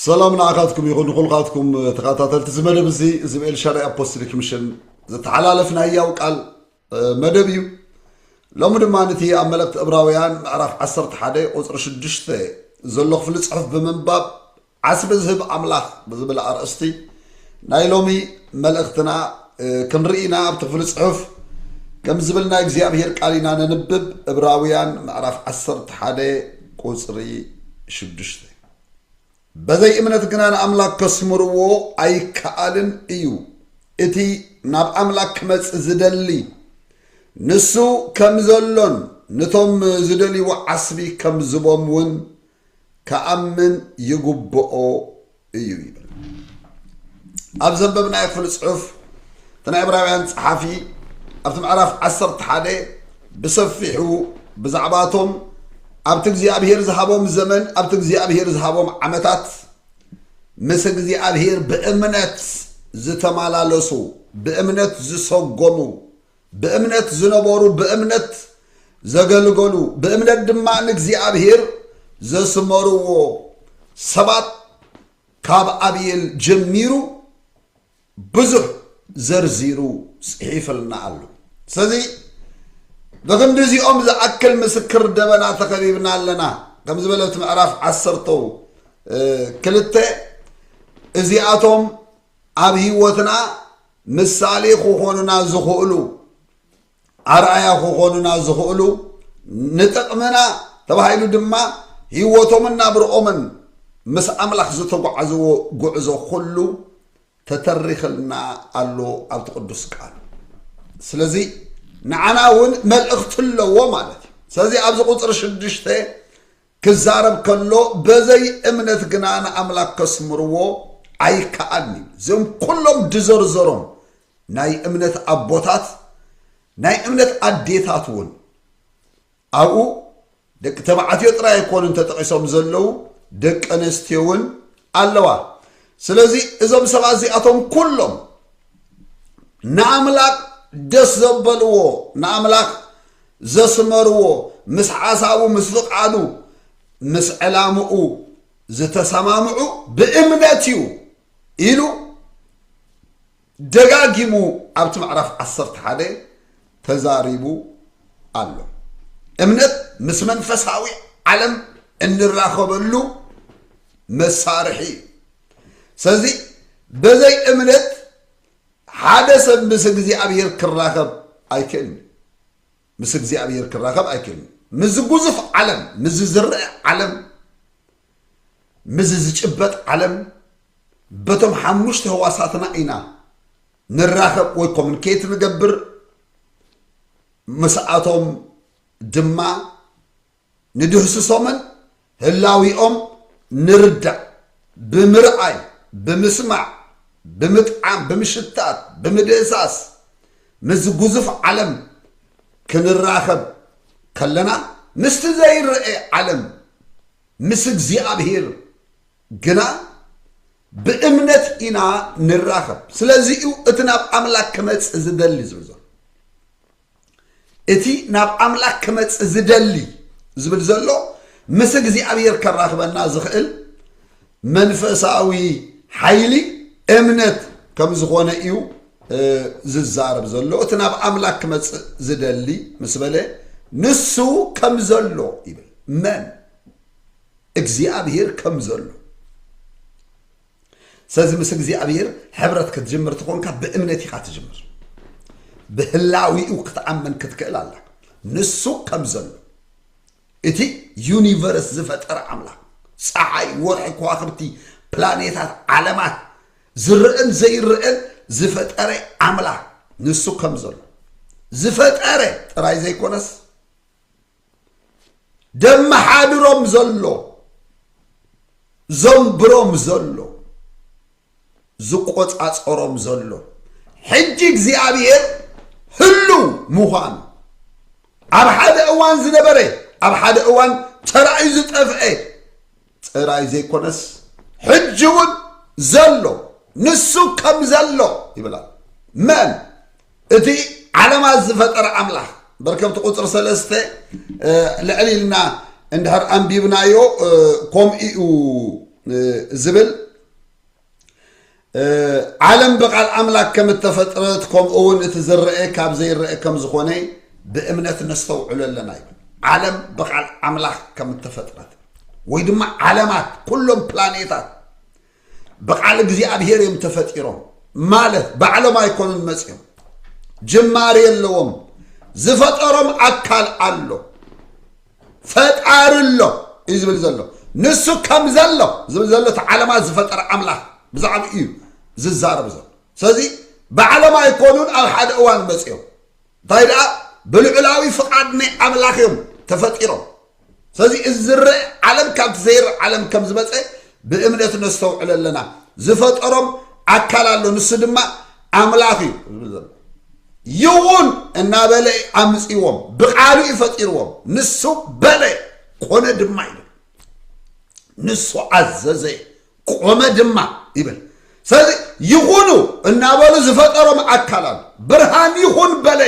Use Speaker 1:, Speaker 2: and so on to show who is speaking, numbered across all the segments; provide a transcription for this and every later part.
Speaker 1: ሰላም ንዓኻትኩም ይኹን ንኹልኻትኩም ተኸታተልቲ እዚ መደብ እዚ እዚ ብኤልሻዳይ ኣፖስትሊክ ሚሽን ዝተሓላለፍ ናይ ያው ቃል መደብ እዩ ሎሚ ድማ ነቲ ኣብ መልእክቲ እብራውያን ምዕራፍ 11 ቁፅሪ 6 ዘሎ ክፍሊ ፅሑፍ ብምንባብ ዓስቢ ዝህብ ኣምላኽ ብዝብል ኣርእስቲ ናይ ሎሚ መልእኽትና ክንርኢ ኢና። ኣብቲ ክፍሊ ጽሑፍ ከም ዝብል ናይ እግዚኣብሔር ቃል ኢና ነንብብ፣ እብራውያን ምዕራፍ ዓሰርተ ሓደ ቁጽሪ ሽዱሽተ በዘይ እምነት ግና ንኣምላክ ከስምርዎ ኣይከኣልን እዩ፣ እቲ ናብ ኣምላክ ክመጽእ ዝደሊ ንሱ ከም ዘሎን ንቶም ዝደልይዎ ዓስቢ ከም ዝቦም እውን ክኣምን ይግብኦ እዩ ይብል። ኣብ ዘንበብናዮ ክፍሊ ጽሑፍ እቲ ናይ ዕብራውያን ጸሓፊ ኣብቲ ምዕራፍ ዓሰርተ ሓደ ብሰፊሑ ብዛዕባቶም ኣብቲ እግዚኣብሄር ዝሃቦም ዘመን ኣብቲ እግዚኣብሄር ዝሃቦም ዓመታት ምስ እግዚኣብሄር ብእምነት ዝተመላለሱ ብእምነት ዝሰጎሙ ብእምነት ዝነበሩ ብእምነት ዘገልገሉ ብእምነት ድማ ንእግዚኣብሔር ዘስመርዎ ሰባት ካብ ኣብየል ጀሚሩ ብዙሕ ዘርዚሩ ጽሒፍልና ኣሎ ስለዚ ብክንዲ እዚኦም ዝኣክል ምስክር ደበና ተኸቢብና ኣለና ከም ዝበለ እቲ ምዕራፍ ዓሰርተ ክልተ እዚኣቶም ኣብ ህይወትና ምሳሌ ክኾኑና ዝኽእሉ ኣርኣያ ክኾኑና ዝኽእሉ ንጥቕምና ተባሂሉ ድማ ህይወቶምን ናብርኦምን ምስ ኣምላኽ ዝተጓዓዝዎ ጉዕዞ ኩሉ ተተሪኽልና ኣሎ ኣብቲ ቅዱስ ቃል ስለዚ ንዓና እውን መልእኽቲ ኣለዎ ማለት እዩ ስለዚ ኣብዚ ቁፅሪ ሽዱሽተ ክዛረብ ከሎ በዘይ እምነት ግና ንኣምላክ ከስምርዎ ኣይከኣልን እዩ እዚኦም ኩሎም ድዘርዘሮም ናይ እምነት ኣቦታት ናይ እምነት ኣዴታት እውን ኣብኡ ደቂ ተባዕትዮ ጥራይ ኣይኮኑን ተጠቒሶም ዘለዉ ደቂ ኣነስትዮ እውን ኣለዋ ስለዚ እዞም ሰባት እዚኣቶም ኩሎም ንኣምላኽ ደስ ዘበልዎ ንኣምላኽ ዘስመርዎ ምስ ሓሳቡ ምስ ፍቓዱ ምስ ዕላምኡ ዝተሰማምዑ ብእምነት እዩ ኢሉ ደጋጊሙ ኣብቲ ምዕራፍ ዓሰርተ ሓደ ተዛሪቡ ኣሎ። እምነት ምስ መንፈሳዊ ዓለም እንራኸበሉ መሳርሒ እዩ። ስለዚ በዘይ እምነት ሓደ ሰብ ምስ እግዚኣብሔር ክራኸብ ኣይክእልን። ምስ እግዚኣብሔር ክራኸብ ኣይክእልን ምዝ ጉዙፍ ዓለም ምዝ ዝርእ ዓለም ምዝ ዝጭበጥ ዓለም በቶም ሓሙሽተ ህዋሳትና ኢና ንራኸብ ወይ ኮሚኒኬት ንገብር ምስኣቶም ድማ ንድህስሶምን ህላዊኦም ንርዳእ፣ ብምርኣይ፣ ብምስማዕ፣ ብምጥዓም፣ ብምሽታት፣ ብምድህሳስ ምስዚ ግዙፍ ዓለም ክንራኸብ ከለና ምስቲ ዘይረኤ ዓለም ምስ እግዚኣብሄር ግና ብእምነት ኢና ንራኸብ። ስለዚ እዩ እቲ ናብ ኣምላክ ክመጽእ ዝደሊ ዝብል ዘሎ። እቲ ናብ ኣምላክ ክመጽእ ዝደሊ ዝብል ዘሎ ምስ እግዚኣብሔር ከራክበና ዝክእል መንፈሳዊ ሓይሊ እምነት ከም ዝኮነ እዩ ዝዛረብ ዘሎ እቲ ናብ ኣምላክ ክመጽእ ዝደሊ ምስ በለ ንሱ ከም ዘሎ ይብል መን እግዚኣብሔር ከም ዘሎ ስለዚ ምስ እግዚኣብሔር ሕብረት ክትጅምር ትኾንካ ብእምነት ኢኻ ትጅምር ብህላዊኡ ክትኣምን ክትክእል ኣላ ንሱ ከም ዘሎ እቲ ዩኒቨርስ ዝፈጠረ ኣምላኽ ፀሓይ ወርሒ ከዋኽብቲ ፕላኔታት ዓለማት ዝርእን ዘይርእን ዝፈጠረ ኣምላኽ ንሱ ከም ዘሎ ዝፈጠረ ጥራይ ዘይኮነስ ደመሓድሮም ዘሎ ዘንብሮም ዘሎ ዝቆጻጸሮም ዘሎ ሕጂ እግዚኣብሔር ህልው ምዃኑ ኣብ ሓደ እዋን ዝነበረ ኣብ ሓደ እዋን ተራእዩ ዝጠፍአ ጥራይ ዘይኮነስ ሕጂ እውን ዘሎ ንሱ ከም ዘሎ ይብላ መን እቲ ዓለማት ዝፈጠረ ኣምላኽ በርከብቲ ቁፅሪ ሰለስተ ልዕሊ ኢልና እንድሕር ኣንቢብናዮ ከምኡ እዩ ዝብል ዓለም ብቃል ኣምላክ ከም እተፈጥረት ከምኡ እውን እቲ ዝረአ ካብ ዘይረአ ከም ዝኾነ ብእምነት ነስተውዕሎ ኣለና እዩ ዓለም ብቃል ኣምላክ ከም እተፈጥረት ወይ ድማ ዓለማት ኩሎም ፕላኔታት ብቃል እግዚኣብሄር እዮም ተፈጢሮም ማለት ባዕሎም ኣይኮኑን መፅኦም ጅማሬ ኣለዎም ዝፈጠሮም ኣካል ኣሎ ፈጣሪ ኣሎ እዩ ዝብል ዘሎ ንሱ ከም ዘሎ ዝብል ዘሎ እቲ ዓለማት ዝፈጠረ ኣምላኽ ብዛዕባ እዩ ዝዛረብ ዘሎ ስለዚ ባዕሎም ኣይኮኑን ኣብ ሓደ እዋን መፅኦም እንታይ ደኣ ብልዑላዊ ፍቓድ ናይ ኣምላኽ እዮም ተፈጢሮም ስለዚ እዚ ዝረአ ዓለም ካብቲ ዘይርእ ዓለም ከም ዝመፀ ብእምነት ነስተውዕል ኣለና ዝፈጠሮም ኣካል ኣሎ ንሱ ድማ ኣምላኽ እዩ ዝብል ዘሎ ይውን እናበለ ኣምፅዎም ብቃሉ እዩ ፈጢርዎም ንሱ በለ ኮነ ድማ ይብል ንሱ ኣዘዘ ቆመ ድማ ይብል ስለዚ ይኹኑ እናበሉ ዝፈጠሮም ኣካል ኣሎ ብርሃን ይኹን በለ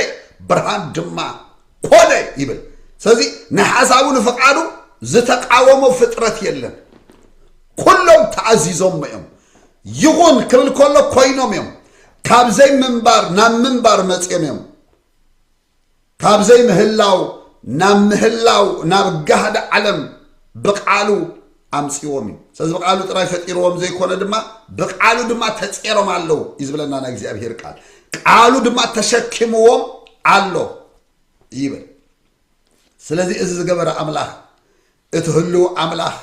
Speaker 1: ብርሃን ድማ ኮነ ይብል ስለዚ ንሓሳቡ ንፍቃዱ ዝተቃወሞ ፍጥረት የለን ኩሎም ተኣዚዞሞ እዮም ይኹን ክብል ከሎ ኮይኖም እዮም ካብ ዘይምንባር ናብ ምንባር መፅኦም እዮም ካብ ዘይምህላው ናብ ምህላው ናብ ጋህዲ ዓለም ብቃሉ ኣምጺዎም እዩ ስለዚ ብቃሉ ጥራይ ፈጢርዎም ዘይኮነ ድማ ብቃሉ ድማ ተጼሮም ኣለዉ እዩ ዝብለና ናይ እግዚኣብሄር ቃል ቃሉ ድማ ተሸኪምዎም ኣሎ ይብል ስለዚ እዚ ዝገበረ ኣምላኽ እቲ ህልው ኣምላኽ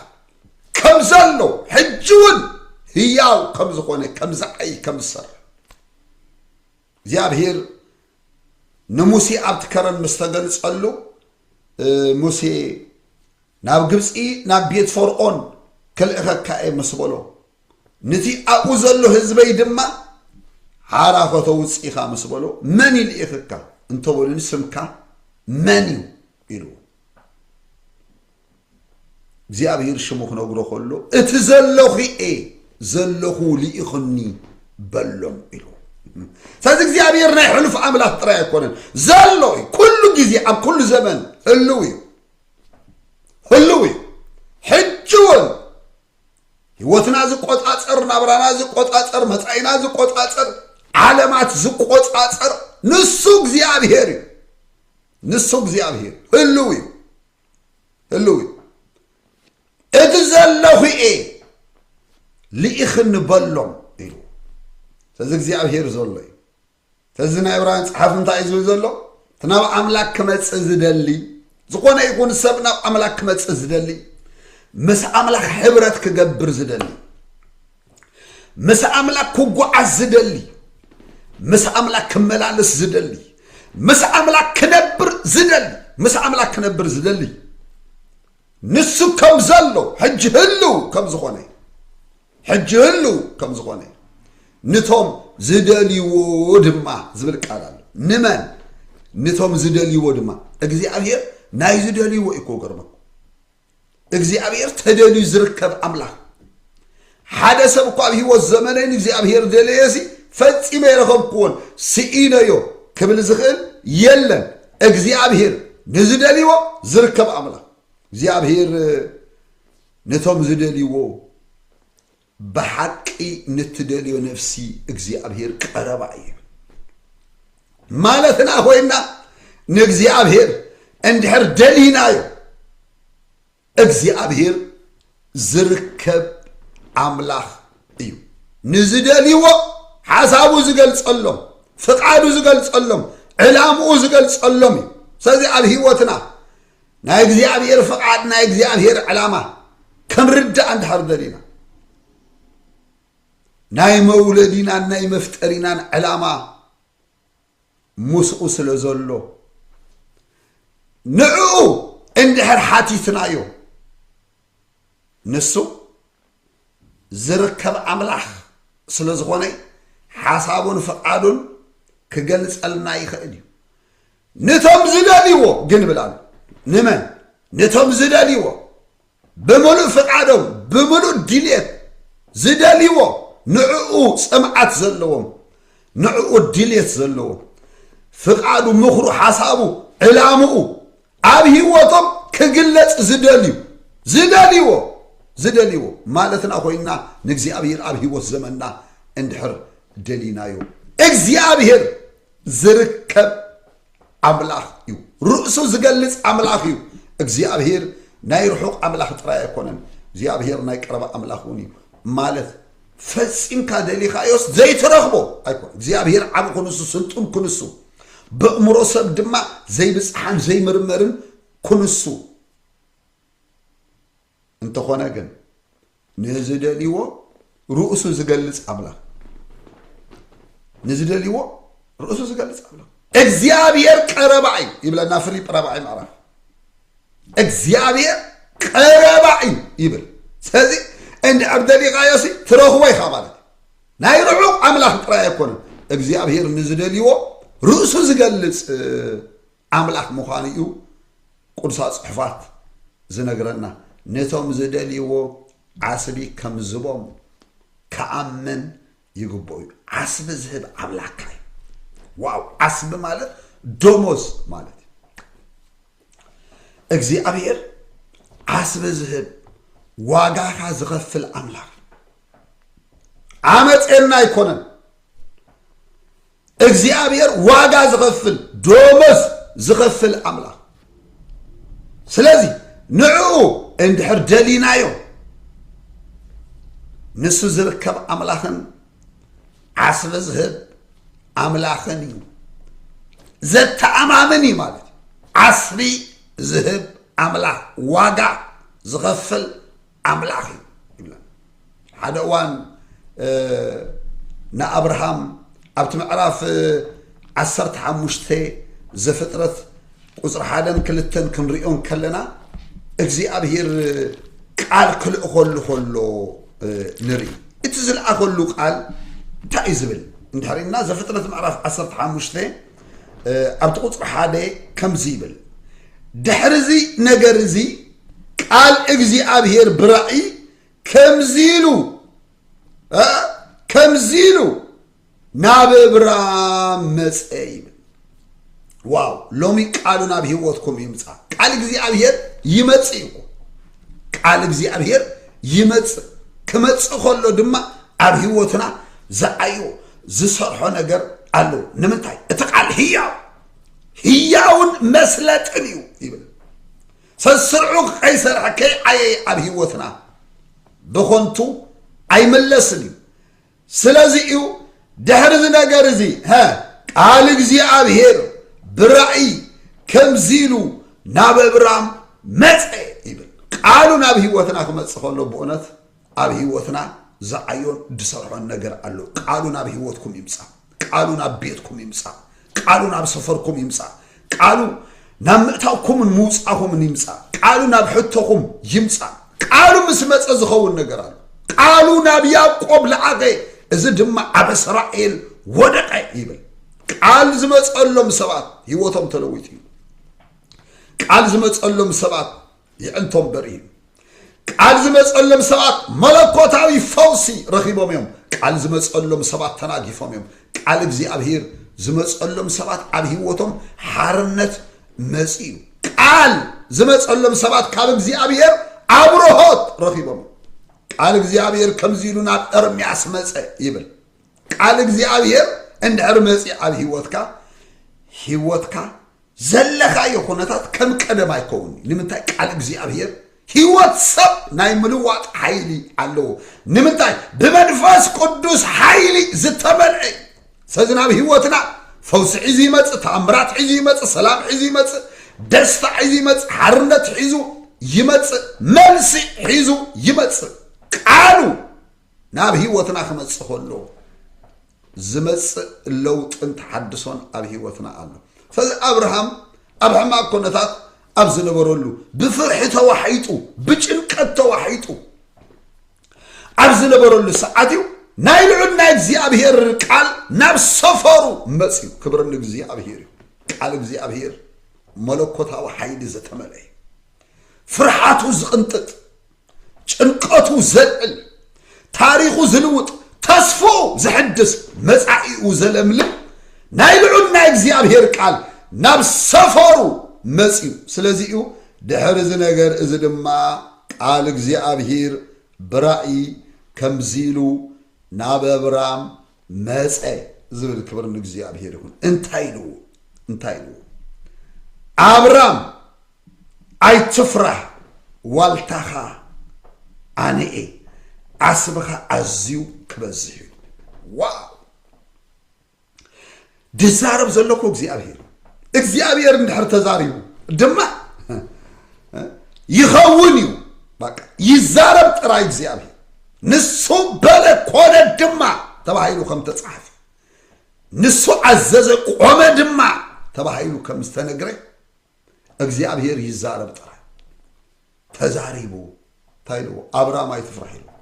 Speaker 1: ከም ዘሎ ሕጂ እውን ህያው ከም ዝኾነ ከም ዝዓይ ከም ዝሰርሕ እግዚኣብሄር ንሙሴ ኣብቲ ከረን ምስ ተገልጸሉ ሙሴ ናብ ግብጺ ናብ ቤት ፈርኦን ክልእኸካ እየ ምስ በሎ ንቲ ኣብኡ ዘሎ ህዝበይ ድማ ሓራ ከተውጽእ ኢኻ ምስ በሎ መን ይልኢኽካ እንተበሉኒ ስምካ መን እዩ ኢልዎ እግዚኣብሔር ሽሙ ክነግሮ ከሎ እቲ ዘለኹ እየ ዘለኹ ልኢኽኒ በሎም ኢሉ ስለዚ እግዚኣብሔር ናይ ሕሉፍ ኣምላኽ ጥራይ ኣይኮነን ዘሎ እዩ ኩሉ ግዜ ኣብ ኩሉ ዘመን ህልው እዩ ህልው እዩ ሕጂ እውን ህይወትና ዝቆፃፀር ናብራና ዝቆፃፀር መፃኢና ዝቆፃፀር ዓለማት ዝቆፃፀር ንሱ እግዚኣብሄር እዩ ንሱ እግዚኣብሄር ህልው እዩ ህልው እዩ እቲ ዘለኹ እየ ልኢኽኒ በሎም ኢሉ ስለዚ እግዚኣብሄር ዘሎ እዩ ተዚ ናይ ዕብራውያን ጸሓፊ እንታይ እዩ ዝብል ዘሎ እቲ ናብ ኣምላክ ክመጽእ ዝደሊ ዝኾነ ይኹን ሰብ ናብ ኣምላክ ክመጽእ ዝደሊ ምስ ኣምላክ ሕብረት ክገብር ዝደሊ ምስ ኣምላክ ክጓዓዝ ዝደሊ ምስ ኣምላክ ክመላለስ ዝደሊ ምስ ኣምላክ ክነብር ዝደሊ ምስ ኣምላክ ክነብር ዝደሊ ንሱ ከም ዘሎ ሕጂ ህልው ከም ዝኾነ እዩ ሕጂ ህልው ከም ዝኾነ እዩ ንቶም ዝደልይዎ ድማ ዝብል ቃል ኣሎ ንመን ንቶም ዝደልይዎ ድማ እግዚኣብሔር ናይ ዝደልይዎ እዩ እኮ ገርመኩ እግዚኣብሔር ተደልዩ ዝርከብ ኣምላኽ ሓደ ሰብ እኳ ኣብ ህይወት ዘመነይ ንእግዚኣብሔር ደለየሲ ፈፂመ የረኸብክዎን ስኢነዮ ክብል ዝኽእል የለን እግዚኣብሔር ንዝደልይዎ ዝርከብ ኣምላኽ እግዚኣብሔር ነቶም ዝደልይዎ ብሓቂ ንትደልዮ ነፍሲ እግዚኣብሔር ቀረባ እዩ ማለትና ኮይና ንእግዚኣብሔር እንድሕር ደሊናዮ እግዚኣብሔር ዝርከብ ኣምላኽ እዩ ንዝደልይዎ ሓሳቡ ዝገልጸሎም ፍቃዱ ዝገልጸሎም ዕላምኡ ዝገልጸሎም እዩ ስለዚ ኣብ ህይወትና ናይ እግዚኣብሔር ፍቃድ ናይ እግዚኣብሔር ዕላማ ከምርዳእ እንድሕር ደሊና ናይ መውለዲናን ናይ መፍጠሪናን ዕላማ ምስኡ ስለ ዘሎ ንዕኡ እንድሕር ሓቲትናዮ ንሱ ዝርከብ ኣምላኽ ስለ ዝኾነ ሓሳቡን ፍቃዱን ክገልጸልና ይኽእል እዩ ንቶም ዝደልይዎ ግን ብል ኣሎ ንመን ንቶም ዝደልይዎ ብምሉእ ፍቃዶም ብምሉእ ድልየት ዝደልይዎ ንዕኡ ጽምዓት ዘለዎም ንዕኡ ድልየት ዘለዎም ፍቃዱ ምኽሩ ሓሳቡ ዕላምኡ ኣብ ህይወቶም ክግለጽ ዝደልዩ ዝደልይዎ ዝደልይዎ ማለትና ኮይና ንእግዚኣብሔር ኣብ ህይወት ዘመንና እንድሕር ደሊናዮ እግዚኣብሔር ዝርከብ ኣምላኽ እዩ ርእሱ ዝገልጽ ኣምላኽ እዩ እግዚኣብሄር ናይ ርሑቕ ኣምላኽ ጥራይ ኣይኮነን እግዚኣብሄር ናይ ቀረባ ኣምላኽ እውን እዩ ማለት ፈጺምካ ደሊኻዮስ ዘይትረኽቦ ኣይኮነ እግዚኣብሄር ዓብ ክንሱ ስልጡን ክንሱ በእምሮ ሰብ ድማ ዘይብፅሓን ዘይምርመርን ክንሱ እንተኾነ ግን ንዝደልዎ ርእሱ ዝገልጽ ኣምላኽ ንዝደልዎ ርእሱ ዝገልጽ ኣምላኽ እግዚኣብሔር ቀረባ እዩ ይብለና ፍሊጵ ራብዓይ ምዕራፍ እግዚኣብሔር ቀረባ እዩ ይብል ስለዚ እንድሕር ደሊኻዮ ሲ ትረኽቦ ኢኻ ማለት ናይ ርሑቕ ኣምላኽ ጥራይ ኣይኮነን እግዚኣብሔር ንዝደልዎ ርእሱ ዝገልጽ ኣምላኽ ምዃኑ እዩ ቅዱሳት ጽሑፋት ዝነግረና። ነቶም ዝደልይዎ ዓስቢ ከም ዝህቦም ክኣምን ይግብኦ እዩ። ዓስቢ ዝህብ ኣምላካ እዩ። ዋው ዓስቢ ማለት ደሞዝ ማለት እዩ። እግዚኣብሔር ዓስቢ ዝህብ ዋጋካ ዝኸፍል ኣምላኽ ዓመፀና ኣይኮነን። እግዚኣብሔር ዋጋ ዝኸፍል ዶሞዝ ዝኸፍል ኣምላኽ ስለዚ ንዕኡ እንድሕር ደሊናዮ ንሱ ዝርከብ ኣምላኽን ዓስቢ ዝህብ ኣምላኽን እዩ ዘተኣማምን እዩ ማለት እዩ ዓስቢ ዝህብ ኣምላኽ ዋጋ ዝኸፍል ኣምላኽ እዩ ይብላ ሓደ እዋን ንኣብርሃም ኣብቲ ምዕራፍ ዓሰርተ ሓሙሽተ ዘፍጥረት ቁፅሪ ሓደን ክልተን ክንሪኦን ከለና እግዚኣብሄር ቃል ክልእኸሉ ከሎ ንርኢ እቲ ዝለኣኸሉ ቃል እንታይ እዩ ዝብል እንድሕሪና ዘፍጥረት ምዕራፍ ዓሰርተ ሓሙሽተ ኣብቲ ቁፅሪ ሓደ ከምዚ ይብል ድሕሪ እዚ ነገር እዚ ቃል እግዚኣብሔር ብራእይ ከምዚሉ ከምዚሉ ናብ እብራም መፀ ይብል ዋው ሎሚ ቃሉ ናብ ህይወትኩም ይምፃ ቃል እግዚኣብሔር ይመፅእ እኮ ቃል እግዚኣብሔር ይመፅእ ክመፅእ ከሎ ድማ ኣብ ህይወትና ዝዓዮ ዝሰርሖ ነገር ኣሎ ንምንታይ እቲ ቃል ህያው ህያውን መስለጥን እዩ ይብል ሰስርዑ ከይሰርሐ ከይዓየየ ኣብ ህይወትና ብኾንቱ ኣይምለስን እዩ ስለዚ እዩ ድሕሪ እዚ ነገር እዚ ቃል እግዚኣብሄር ብራእይ ከምዚ ኢሉ ናብ እብራም መፀ ይብል ቃሉ ናብ ህይወትና ክመፅእ ከሎ ብእውነት ኣብ ሂወትና ዝዓዮን ድሰርሖን ነገር ኣሎ ቃሉ ናብ ሂወትኩም ይምጻእ ቃሉ ናብ ቤትኩም ይምጻእ ቃሉ ናብ ሰፈርኩም ይምጻእ ቃሉ ናብ ምእታውኩምን ምውጻኹምን ይምጻእ ቃሉ ናብ ሕቶኹም ይምጻእ ቃሉ ምስ መጸ ዝኸውን ነገር ኣሎ ቃሉ ናብ ያዕቆብ ለኣኸ እዚ ድማ ኣብ እስራኤል ወደቐ ይብል ቃል ዝመጸሎም ሰባት ህይወቶም ተለዊጡ እዩ ቃል ዝመጸሎም ሰባት ይዕንቶ እምበር እዩ። ቃል ዝመጸሎም ሰባት መለኮታዊ ፈውሲ ረኺቦም እዮም። ቃል ዝመጸሎም ሰባት ተናጊፎም እዮም። ቃል እግዚኣብሔር ዝመጸሎም ሰባት ኣብ ህይወቶም ሓርነት መጺኡ እዩ። ቃል ዝመጸሎም ሰባት ካብ እግዚኣብሔር ኣብርሆት ረኺቦም እዮም። ቃል እግዚኣብሔር ከምዚ ኢሉ ናብ ኤርምያስ መጸ ይብል ቃል እግዚኣብሔር እንድሕር መፂ ኣብ ህይወትካ ህይወትካ ዘለኻዮ ኩነታት ከም ቀደም ኣይከውን እዩ ንምንታይ ቃል እግዚኣብሔር ህይወት ሰብ ናይ ምልዋጥ ሓይሊ ኣለዎ ንምንታይ ብመንፈስ ቅዱስ ሓይሊ ዝተመልዐ እዩ ስለዚ ናብ ህይወትና ፈውሲ ሒዙ ይመፅእ ተኣምራት ሒዙ ይመፅእ ሰላም ሒዙ ይመፅእ ደስታ ሒዙ ይመፅእ ሓርነት ሒዙ ይመፅእ መልሲ ሒዙ ይመፅእ ቃሉ ናብ ህይወትና ክመጽእ ከሎ ዝመጽእ ለውጥን ተሓድሶን ኣብ ህይወትና ኣሎ ስለዚ ኣብርሃም ኣብ ሕማቅ ኮነታት ኣብ ዝነበረሉ ብፍርሒ ተዋሒጡ ብጭንቀት ተዋሒጡ ኣብ ዝነበረሉ ሰዓት እዩ ናይ ልዑል ናይ እግዚኣብሄር ቃል ናብ ሰፈሩ መፅዩ ክብሪ ንእግዚኣብሄር እዩ ቃል እግዚኣብሄር መለኮታዊ ሓይሊ ዘተመልአ እዩ ፍርሓቱ ዝቕንጥጥ ጭንቀቱ ዘልዕል ታሪኹ ዝልውጥ ተስፍኡ ዝሕድስ መጻኢኡ ዘለምልም ናይ ልዑል ናይ እግዚኣብሔር ቃል ናብ ሰፈሩ መጽዩ ስለዚ እዩ ድሕሪ እዚ ነገር እዚ ድማ ቃል እግዚኣብሔር ብራእይ ከምዚ ኢሉ ናብ ኣብራም መጸ ዝብል ክብሪ ንእግዚኣብሄር ይኹን እንታይ ኢልዎ እንታይ ኢልዎ ኣብራም ኣይትፍራህ ዋልታኻ ኣነ እየ ዓስብኻ ኣዝዩ ክበዝሕ እዩ ዋው ድዛረብ ዘለኩ እግዚኣብሔር እዩ እግዚኣብሔር እንድሕር ተዛሪቡ ድማ ይኸውን እዩ በቃ ይዛረብ ጥራይ እግዚኣብሔር ንሱ በለ ኮነ ድማ ተባሂሉ ከም ተጻሕፈ ንሱ ኣዘዘ ቆመ ድማ ተባሂሉ ከም ዝተነግረ እግዚኣብሔር ይዛረብ ጥራይ ተዛሪቡ እንታይ ኢልዎ ኣብራም ኣይትፍራሕ ኢልዎ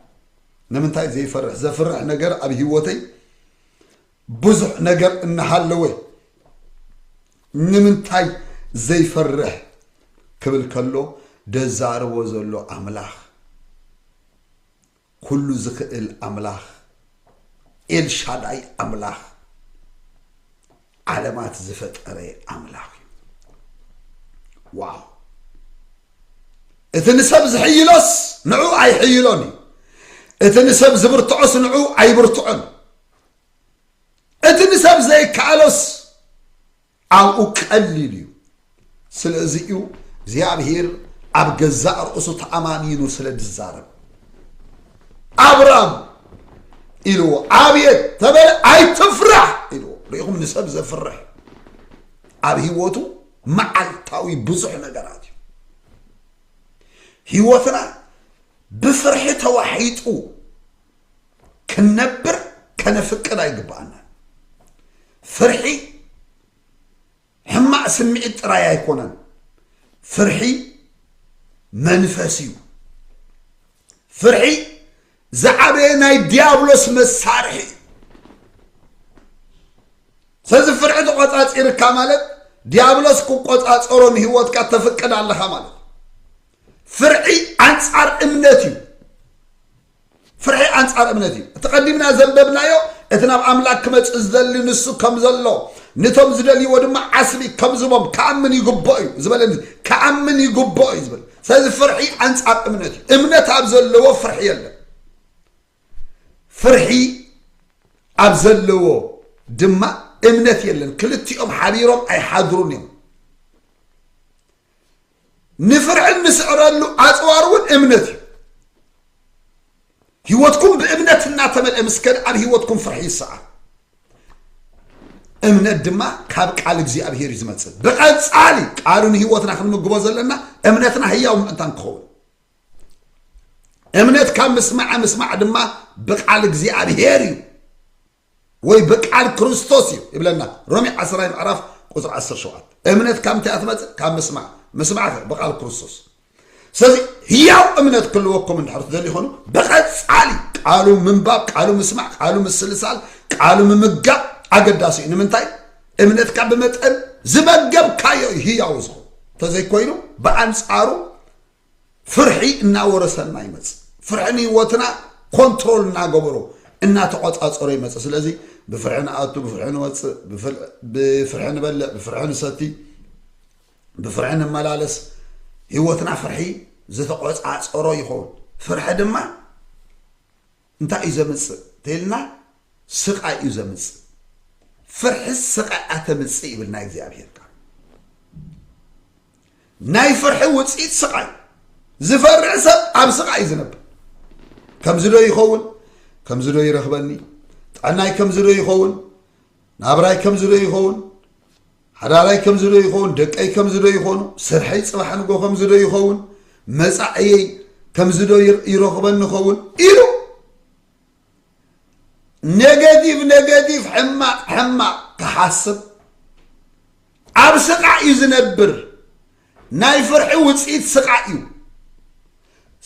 Speaker 1: ንምንታይ ዘይፈርሕ ዘፍርሕ ነገር ኣብ ህይወተይ ብዙሕ ነገር እናሃለወ ንምንታይ ዘይፈርሕ ክብል ከሎ ደዛረቦ ዘሎ ኣምላኽ ኩሉ ዝኽእል ኣምላኽ ኤልሻዳይ ኣምላኽ ዓለማት ዝፈጠረ ኣምላኽ እዩ ዋው እቲ ንሰብ ዝሕይሎስ ንዑ ኣይሕይሎን እዩ እቲ ንሰብ ዝብርትዖስ ንዑ ኣይብርትዖን እቲ ንሰብ ዘይከኣሎስ ኣብኡ ቀሊል እዩ ስለዚ እዩ እግዚኣብሄር ኣብ ገዛእ ርእሱ ተኣማሚኑ ስለ ዝዛረብ ኣብራም ኢልዎ ኣብየት ተበለ ኣይትፍራሕ ኢልዎ ርኢኹም ንሰብ ዘፍርሕ ኣብ ህይወቱ መዓልታዊ ብዙሕ ነገራት እዩ ህይወትና ብፍርሒ ተዋሒጡ ክንነብር ከነፍቅድ ኣይግባኣናን ፍርሒ ሕማቅ ስምዒት ጥራይ ኣይኮነን ፍርሒ መንፈስ እዩ ፍርሒ ዝዓበየ ናይ ዲያብሎስ መሳርሒ እዩ ስለዚ ፍርሒ ተቆፃፂርካ ማለት ዲያብሎስ ክቆፃፀሮ ንህይወትካ ተፍቅድ ኣለኻ ማለት ፍርሒ ኣንፃር እምነት እዩ ፍርሒ ኣንጻር እምነት እዩ። እቲ ቀዲምና ዘንበብናዮ እቲ ናብ ኣምላክ ክመጽእ ዝደሊ ንሱ ከም ዘሎ ንቶም ዝደልይዎ ድማ ዓስቢ ከም ዝቦም ክኣምን ይግብኦ እዩ ዝበለ ክኣምን ይግብኦ እዩ ዝብል ስለዚ ፍርሒ ኣንጻር እምነት እዩ። እምነት ኣብ ዘለዎ ፍርሒ የለን። ፍርሒ ኣብ ዘለዎ ድማ እምነት የለን። ክልቲኦም ሓቢሮም ኣይሓድሩን እዮም። ንፍርሒ እንስዕረሉ ኣፅዋር እውን እምነት እዩ። ህይወትኩም ብእምነት እናተመልአ ምስ ከደ ኣብ ህይወትኩም ፍርሒ ይሰዓር። እምነት ድማ ካብ ቃል እግዚኣብሄር እዩ ዝመፅእ። ብቐፃሊ ቃሉ ንህይወትና ክንምግቦ ዘለና እምነትና ህያው ምእንታን ክኸውን እምነት ካብ ምስማዕ ምስማዕ ድማ ብቃል እግዚኣብሄር እዩ። ወይ ብቃል ክርስቶስ እዩ ይብለና ሮሜ ዓስራይ ምዕራፍ ቁፅሪ ዓሰርተ ሸውዓተ እምነት ካብ እንታይ እያ ትመፅእ ካብ ምስማዕ ምስማዕ ከ ብቃል ክርስቶስ ስለዚ ህያው እምነት ክህልወኩም እንድሕር ትደልዩ ይኾኑ ብቐፃሊ ቃሉ ምንባብ ቃሉ ምስማዕ ቃሉ ምስልሳል ቃሉ ምምጋብ ኣገዳሲ እዩ ንምንታይ እምነትካ ብመጠን ዝመገብካዮ እዩ ህያው ዝኾኑ እንተዘይኮይኑ ብኣንፃሩ ፍርሒ እናወረሰና ይመፅእ ፍርሒ ንህይወትና ኮንትሮል እናገበሮ እናተቆፃፀሮ ይመፅእ ስለዚ ብፍርሒ ንኣቱ ብፍርሒ ንወፅእ ብፍርሒ ንበልዕ ብፍርሒ ንሰቲ ብፍርሒ ንመላለስ ህይወትና ፍርሒ ዝተቆፃፀሮ ይኸውን ፍርሒ ድማ እንታይ እዩ ዘምጽእ ተይልና ስቃይ እዩ ዘምጽእ ፍርሕስ ስቃይ ኣተምጽእ ይብል ናይ እግዚኣብሔር ቃል ናይ ፍርሒ ውጽኢት ስቃይ ዝፈርሕ ሰብ ኣብ ስቃይ እዩ ዝነብር ከምዚ ዶ ይኸውን ከምዚ ዶ ይረኽበኒ ጥዕናይ ከምዚ ዶ ይኸውን ናብራይ ከምዚ ዶ ይኸውን? ሓዳራይ ከምዚ ዶ ይኸውን? ደቀይ ከምዚ ዶ ይኾኑ? ስርሐይ ጽባሕ ንጎ ከምዚ ዶ ይኸውን? መጻዕየይ ከምዚ ዶ ይረኽበኒ ኸውን? ኢሉ ኔጋቲቭ ኔጋቲቭ ሕማቕ ሕማቕ ክሓስብ ኣብ ስቓዕ እዩ ዝነብር ናይ ፍርሒ ውፅኢት ስቓዕ እዩ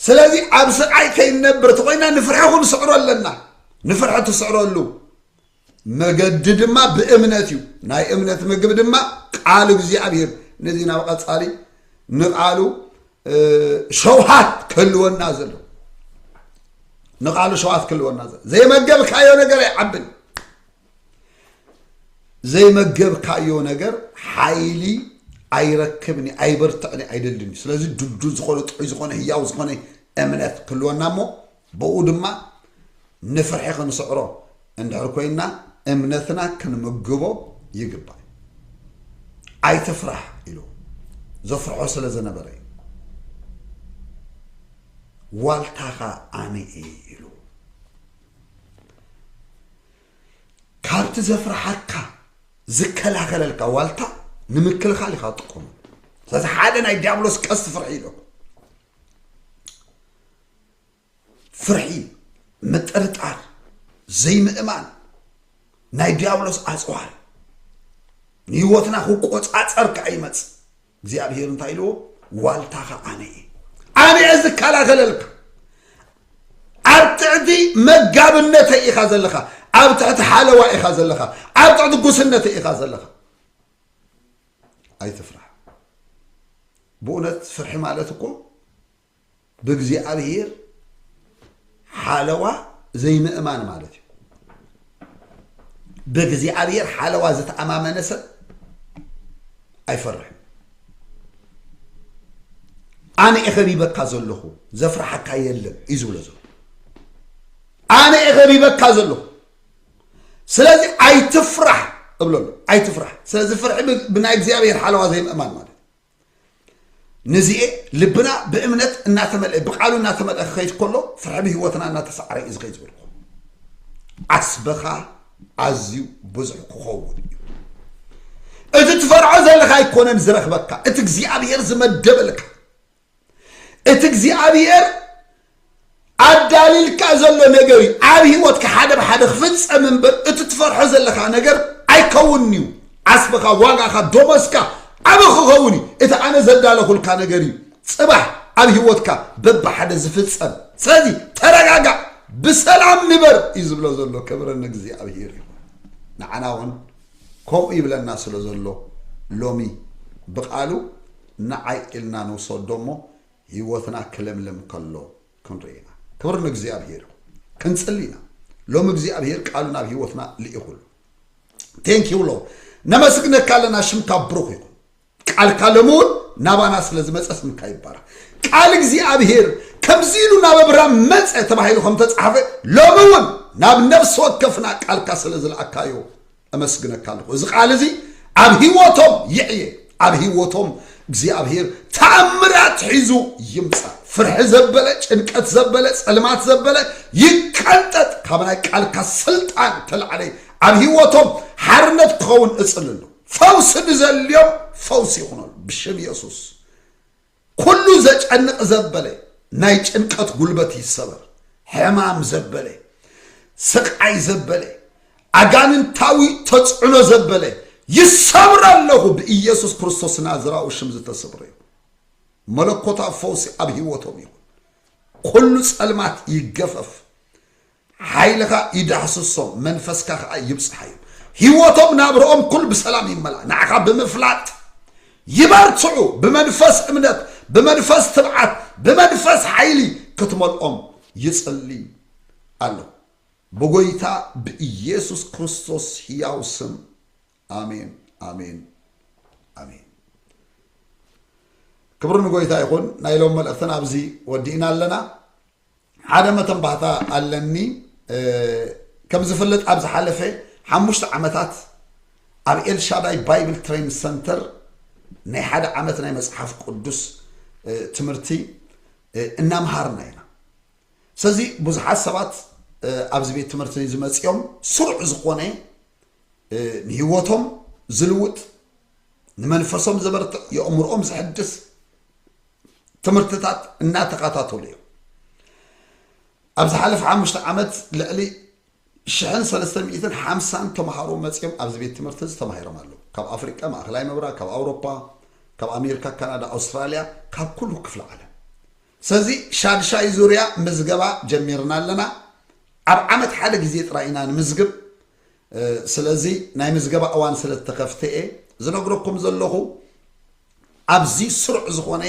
Speaker 1: ስለዚ ኣብ ስቓይ ከይነብር ተኮይና ንፍርሒ ክንስዕሮ ኣለና ንፍርሒ ትስዕረሉ መገዲ ድማ ብእምነት እዩ ናይ እምነት ምግብ ድማ ቃል እግዚኣብሔር ነዚ ናብ ቀጻሊ ንቃሉ ሸውሃት ክህልወና ዘሎ ንቃሉ ሸውሃት ክህልወና ዘሎ ዘይመገብካዮ ነገር ኣይዓብን ዘይመገብካዮ ነገር ሓይሊ ኣይረክብን ኣይበርትዕን ኣይደልን ስለዚ ድልዱል ዝኾነ ጥዑይ ዝኾነ ህያው ዝኾነ እምነት ክህልወና እሞ ብእኡ ድማ ንፍርሒ ክንስዕሮ እንድሕር ኮይንና እምነትና ክንምግቦ ይግባእ። ኣይትፍራሕ ኢልዎ። ዘፍርሖ ስለ ዝነበረ እዩ። ዋልታኻ ኣነ እየ ኢልዎ። ካብቲ ዘፍርሓካ ዝከላኸለልካ ዋልታ ንምክልኻል ኢኻ ትጥቀመሉ። ስለዚ ሓደ ናይ ዲያብሎስ ቀስቲ ፍርሒ ኢሎ ፍርሒ፣ ምጥርጣር፣ ዘይምእማን ናይ ዲያብሎስ ኣጽዋር ንህይወትና ክቆጻጸር ከዓ ይመጽእ። እግዚኣብሔር እንታይ ኢልዎ? ዋልታኻ ኣነ እየ ኣነ እየ ዝከላኸለልካ ኣብ ትሕቲ መጋብነተይ ኢኻ ዘለኻ ኣብ ትሕቲ ሓለዋ ኢኻ ዘለኻ ኣብ ትሕቲ ጉስነተይ ኢኻ ዘለኻ ኣይትፍራሕ ብእውነት ፍርሒ ማለት እኮ ብእግዚኣብሄር ሓለዋ ዘይምእማን ማለት እዩ። ብእግዚኣብሄር ሓለዋ ዝተኣማመነ ሰብ ኣይፈርሕን። ኣነ እየ ከቢበካ ዘለኹ ዘፍርሓካ የለን እዩ ዝብሎ ዘሎ ኣነ እየ ከቢበካ ዘለኹ ስለዚ ኣይትፍራሕ እብሎ ኣሎ ኣይትፍራሕ ስለዚ ፍርሒ ብናይ እግዚኣብሄር ሓለዋ ዘይምእማን ማለት ንዚኤ ልብና ብእምነት እናተመልአ ብቃሉ እናተመልአ ክኸይድ ከሎ ፍርሒ ብህይወትና እናተሰዓረ እዩ ዝኸይድ ዝበልኩ ዓስብኻ ኣዝዩ ብዙሕ ክኸውን እዩ እቲ ትፈርዖ ዘለካ ኣይኮነን ዝረኽበካ እቲ እግዚኣብሄር ዝመደበልካ እቲ እግዚኣብሄር ኣዳሊልካ ዘሎ ነገር እዩ ኣብ ሂወትካ ሓደ ብሓደ ክፍጸም እምበር እቲ ትፈርሖ ዘለካ ነገር ኣይከውንን እዩ ዓስብኻ ዋጋኻ ዶሞስካ ዓቢ ክኸውን እዩ እቲ ኣነ ዘዳለኹልካ ነገር እዩ ጽባሕ ኣብ ሂወትካ በብሓደ ዝፍጸም ስለዚ ተረጋጋእ ብሰላም ንበር እዩ ዝብሎ ዘሎ ክብረ ንእግዚኣብሄር ይኹን ንዓና እውን ከምኡ ይብለና ስለ ዘሎ ሎሚ ብቃሉ ንዓይ ኢልና ንውሰዶ እሞ ሂወትና ክልምልም ከሎ ክንርኢ ኢና ክብሪ ንእግዚኣብሄር ይኹን ክንጽሊ ኢና ሎሚ እግዚኣብሄር ቃሉ ናብ ሂወትና ልኢኹ ኣሎ ቴንክ ዩ ሎርድ ነመስግነካ ኣለና ሽምካ ብሩኽ ይኹን ቃልካ ሎሚ እውን ናባና ስለ ዝመፀ ስምካ ይባረኽ ቃል እግዚኣብሄር ከምዚ ኢሉ ናብ ኣብርሃም መፀ ተባሂሉ ከም ተፃሓፈ ሎሚ እውን ናብ ነፍሲ ወከፍና ቃልካ ስለ ዝለኣካዮ እመስግነካ ኣለኹ እዚ ቃል እዚ ኣብ ህይወቶም ይዕየ ኣብ ህይወቶም እግዚኣብሔር ተኣምራት ሒዙ ይምፃ ፍርሒ ዘበለ ጭንቀት ዘበለ ፀልማት ዘበለ ይቀንጠጥ ካብ ናይ ቃልካ ስልጣን ተላዕለ ኣብ ህይወቶም ሓርነት ክኸውን እፅልሉ ፈውሲ ንዘልዮም ፈውሲ ይኹነሉ ብሽም የሱስ ኩሉ ዘጨንቅ ዘበለ ናይ ጭንቀት ጉልበት ይሰበር ሕማም ዘበለ ስቃይ ዘበለ ኣጋንንታዊ ተጽዕኖ ዘበለ ይሰብረ ኣለኹ ብኢየሱስ ክርስቶስ ናዝራዊ ሽም ዝተሰብረ እዩ መለኮታዊ ፈውሲ ኣብ ህይወቶም ይኹን ኩሉ ጸልማት ይገፈፍ ሓይልኻ ይዳህስሶም መንፈስካ ከኣ ይብጽሓዮም ሂወቶም ናብርኦም ኩሉ ብሰላም ይመላእ ንዓኻ ብምፍላጥ ይበርትዑ ብመንፈስ እምነት ብመንፈስ ትብዓት ብመንፈስ ሓይሊ ክትመልኦም ይጽሊ ኣለኹ ብጎይታ ብኢየሱስ ክርስቶስ ሕያው ስም ኣሜን ኣሜን ኣሜን ክብሪ ንጎይታ ይኹን ናይ ሎም መልእኽትን ኣብዚ ወዲእና ኣለና ሓደ መተንባህታ ኣለኒ ከም ዝፍለጥ ኣብ ዝሓለፈ ሓሙሽተ ዓመታት ኣብ ኤልሻዳይ ባይብል ትሬን ሰንተር ናይ ሓደ ዓመት ናይ መፅሓፍ ቅዱስ ትምህርቲ እናምሃርና ኢና ስለዚ ብዙሓት ሰባት ኣብዚ ቤት ትምህርቲ ዝመፅኦም ስሩዕ ዝኾነ ንህይወቶም ዝልውጥ ንመንፈሶም ዘበርትዕ የእምሮኦም ዝሕድስ ትምህርትታት እናተኸታተሉ እዮም ኣብ ዝሓለፈ ሓሙሽተ ዓመት ልዕሊ ሽሕን ሰለስተ ሚእትን ሓምሳን ተምሃሮ መፅኦም ኣብዚ ቤት ትምህርቲ እዚ ተማሂሮም ኣለዉ ካብ ኣፍሪቃ ማእኸላይ ምብራቅ ካብ ኣውሮፓ ካብ ኣሜሪካ ካናዳ ኣውስትራልያ ካብ ኩሉ ክፍሊ ዓለም ስለዚ ሻድሻይ ዙርያ ምዝገባ ጀሚርና ኣለና ኣብ ዓመት ሓደ ግዜ ጥራይ ኢና ንምዝግብ ስለዚ ናይ ምዝገባ እዋን ስለ ዝተኸፍተ እየ ዝነግረኩም ዘለኹ። ኣብዚ ስሩዕ ዝኾነ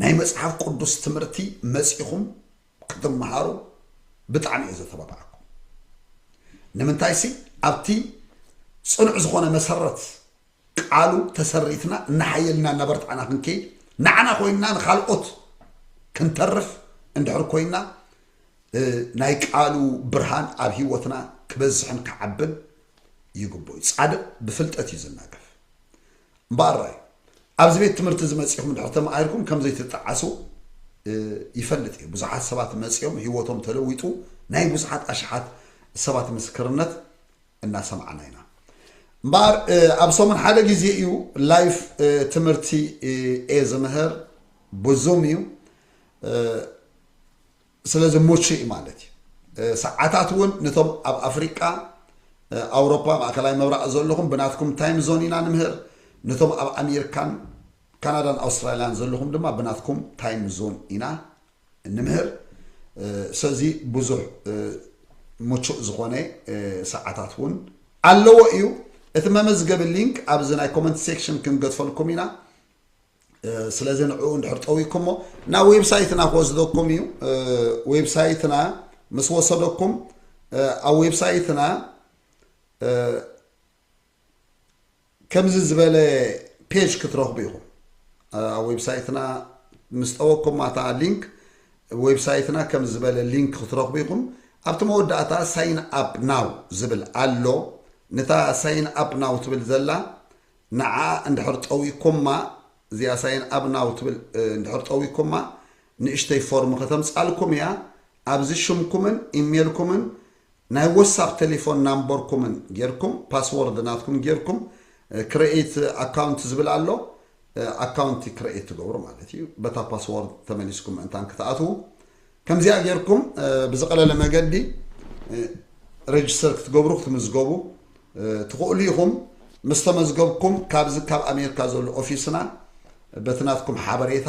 Speaker 1: ናይ መጽሓፍ ቅዱስ ትምህርቲ መጺኹም ክትመሃሩ ብጣዕሚ እየ ዘተባብዓኩም። ንምንታይሲ ኣብቲ ጽኑዕ ዝኾነ መሰረት ቃሉ ተሰሪትና እናሓየልና እናበርታዕና ክንከይድ ንዓና ኮይንና ንካልኦት ክንተርፍ እንድሕር ኮይና ናይ ቃሉ ብርሃን ኣብ ህይወትና ክበዝሕን ክዓብን ይግብኦ ጻድቅ ብፍልጠት እዩ ዝናገፍ እምበኣር ራዩ ኣብዚ ቤት ትምህርቲ እዚ መፂኹም ድሕር ተማሂርኩም ከም ዘይትጠዓሱ ይፈልጥ እዩ ብዙሓት ሰባት መፂኦም ህይወቶም ተለዊጡ ናይ ብዙሓት ኣሽሓት ሰባት ምስክርነት እናሰማዕና ኢና እምበኣር ኣብ ሰሙን ሓደ ግዜ እዩ ላይፍ ትምህርቲ እየ ዝምህር ብዙም እዩ ስለዚ ሙቹ እዩ ማለት እዩ ሰዓታት እውን ነቶም ኣብ ኣፍሪቃ ኣውሮፓ ማእከላይ ምብራቕ ዘለኹም ብናትኩም ታይም ዞን ኢና ንምህር ነቶም ኣብ ኣሜሪካን ካናዳን ኣውስትራልያን ዘለኹም ድማ ብናትኩም ታይም ዞን ኢና እንምህር ሰዚ ብዙሕ ምቹእ ዝኾነ ሰዓታት እውን ኣለዎ እዩ እቲ መመዝገቢ ሊንክ ኣብዚ ናይ ኮመንት ሴክሽን ክንገድፈልኩም ኢና ስለዚ ንዕኡ እንድሕር ጠዊኩሞ ናብ ዌብሳይትና ክወስደኩም እዩ ዌብሳይትና ምስ ወሰደኩም ኣብ ዌብሳይትና ከምዚ ዝበለ ፔጅ ክትረኽቡ ኢኹም ኣብ ዌብሳይትና ምስ ጠወኩማ እታ ሊንክ ዌብሳይትና ከም ዝበለ ሊንክ ክትረኽቡ ኢኹም ኣብቲ መወዳእታ ሳይን ኣፕ ናው ዝብል ኣሎ ነታ ሳይን ኣፕ ናው ትብል ዘላ ንዓ እንድሕር ጠዊኩማ እዚኣ ሳይን ኣፕ ናው ትብል እንድሕር ጠዊኩማ ንእሽተይ ፎርም ከተምፃልኩም እያ ኣብዚ ሽምኩምን ኢሜልኩምን ናይ ወሳፕ ተሌፎን ናምበርኩምን ጌርኩም ፓስዎርድ ናትኩም ጌርኩም ክረኤት ኣካውንት ዝብል ኣሎ ኣካውንቲ ክረኤት ትገብሩ ማለት እዩ በታ ፓስዎርድ ተመሊስኩም ምእንታን ክትኣትዉ ከምዚኣ ጌርኩም ብዝቐለለ መገዲ ረጅስተር ክትገብሩ ክትምዝገቡ ትኽእሉ ኢኹም ምስ ተመዝገብኩም ካብዚ ካብ ኣሜሪካ ዘሎ ኦፊስና በቲ ናትኩም ሓበሬታ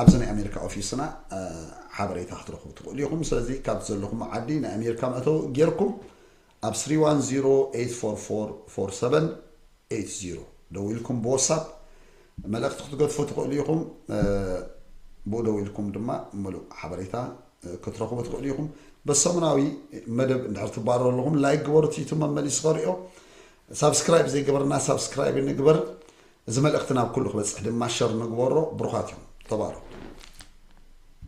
Speaker 1: ኣብዚ ናይ ኣሜሪካ ኦፊስና ሓበሬታ ክትረኽቡ ትኽእሉ ኢኹም። ስለዚ ካብ ዘለኹሞ ዓዲ ናይ ኣሜሪካ መእተዊ ጌርኩም ኣብ ስሪ ዋን ዚሮ ኤይት ፎር ፎር ፎር ሰቨን ኤይት ዚሮ ደዊልኩም ብወሳፕ መልእኽቲ ክትገድፉ ትኽእሉ ኢኹም። ብኡ ደዊልኩም ድማ ምሉእ ሓበሬታ ክትረኽቡ ትኽእሉ ኢኹም። በሰሙናዊ መደብ እንድሕር ትባረሩ ኣለኹም ላይክ ግበሩ፣ እቲ ዩቱብ መመሊሱ ከርእዮ ሳብስክራይብ ዘይገበርና ሳብስክራይብ ንግበር። እዚ መልእኽቲ ናብ ኩሉ ክበጽሕ ድማ ሸር ንግበሮ ብሩኻት ኢኹም ተባረኹ።